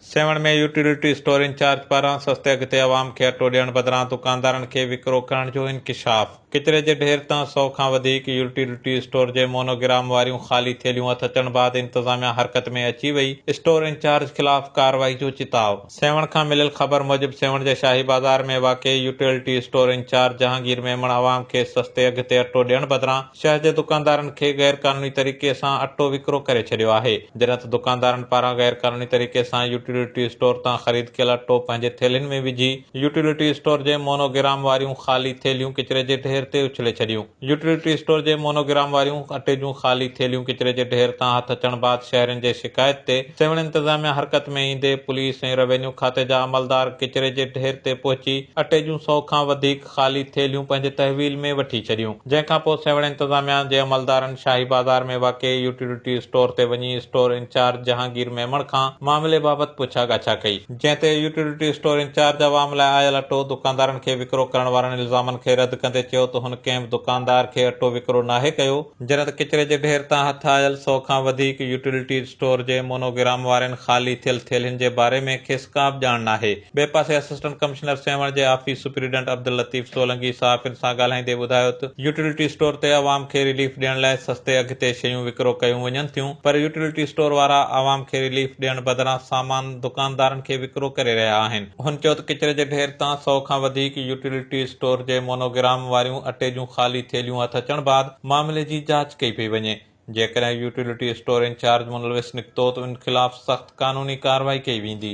Sehwan ۾ utility store incharge پاران سستي اگهه تي عوام کي اٽو ڏيڻ بدران دڪاندارن کي وڪرو ڪرڻ جو انڪشاف، ڪچري جي ڍير تان سؤ کان وڌيڪ يوٽيلٽي اسٽور جي مونو گرام واريون خالي ٿيلهيون هٿ اچڻ بعد انتظاميا حرڪت ۾ اچي وئي، اسٽور انچارج خلاف ڪارروائي جو چتاء. سيوهڻ کان مليل خبر موجب سيوهڻ جي شاهي بازار ۾ واقع utility store incharge Jahangir Memon عوام کي سستي اگهه تي اٽو ڏيڻ بدران شهر جي دڪاندارن کي غير قانوني طريقي سان اٽو وڪرو ڪري ڇڏيو آهي، جڏهن ته دڪاندارن پاران غير قانوني طريقي سان يوٽيلٽي اسٽور تان خريد ڪيل اٽو پنهنجي ٿيلهين ۾ وجهي يوٽيلٽي اسٽور جي مونو گرام واريون خالي ٿيلهيون ڪچري جي ڍير تي اڇلي ڇڏيون يوٽيلٽي اسٽور جي مونو گرام واريون اٽي جون خالي ٿيلهيون ڪچري جي ڍير تان هٿ اچڻ بعد شهرين جي شڪايت تي سيوهڻ انتظاميا حرڪت ۾ ايندي پوليس ۽ روينيو کاتي جا عملدار ڪچري جي ڍير تي پهچي اٽي جون سؤ کان وڌيڪ خالي ٿيلهيون پنهنجي تحويل ۾ وٺي ڇڏيون، جنهن کان پوء سيوهڻ انتظاميا جي عملدارن شاهي بازار ۾ واقع يوٽيلٽي اسٽور تي وڃي اسٽور انچارج جهانگير ميمڻ کان معاملي بابت پڇا ڳاڇا ڪئي، جنهن تي يوٽيلٽي اسٽور انچارج عوام لاء آيل اٽو دڪاندارن کي وڪرو ڪرڻ وارن الزامن کي رد ڪندي چيو ته هن ڪنهن به دڪاندار کي اٽو وڪرو ناهي ڪيو، جڏهن ته ڪچري جي ڍير تان هٿ آيل سؤ کان وڌيڪ يوٽيلٽي اسٽور جي مونوگرام وارين خالي ٿيل ٿيلهين جي باري ۾ کيس ڪابه ڄاڻ ناهي. ٻئي پاسي اسسٽنٽ ڪمشنر سيوهڻ جي آفيس سپريڊنٽ عبداللطيف سولنگي صحافين سان ڳالهائيندي ٻڌايو ته يوٽيلٽي اسٽور تي عوام کي رليف ڏيڻ لاء سستي اگهه تي شيون وڪرو ڪيون وڃن ٿيون پر يوٽيلٽي اسٽور وارا عوام کي رليف ڏيڻ بدران سامان دڪاندارن کي وڪرو ڪري رهيا آهن. هن چيو ته ڪچري جي ڍير تان سؤ کان وڌيڪ يوٽيلٽي اسٽور جي مونو گرام واريون اٽي جون خالي ٿيلهيون هٿ اچڻ بعد معاملي جي جاچ ڪئي پئي وڃي جيڪڏهن يوٽيلٽي اسٽور انچارج ملوث نڪتو ته ان خلاف سخت قانوني ڪارروائي ڪئي ويندي.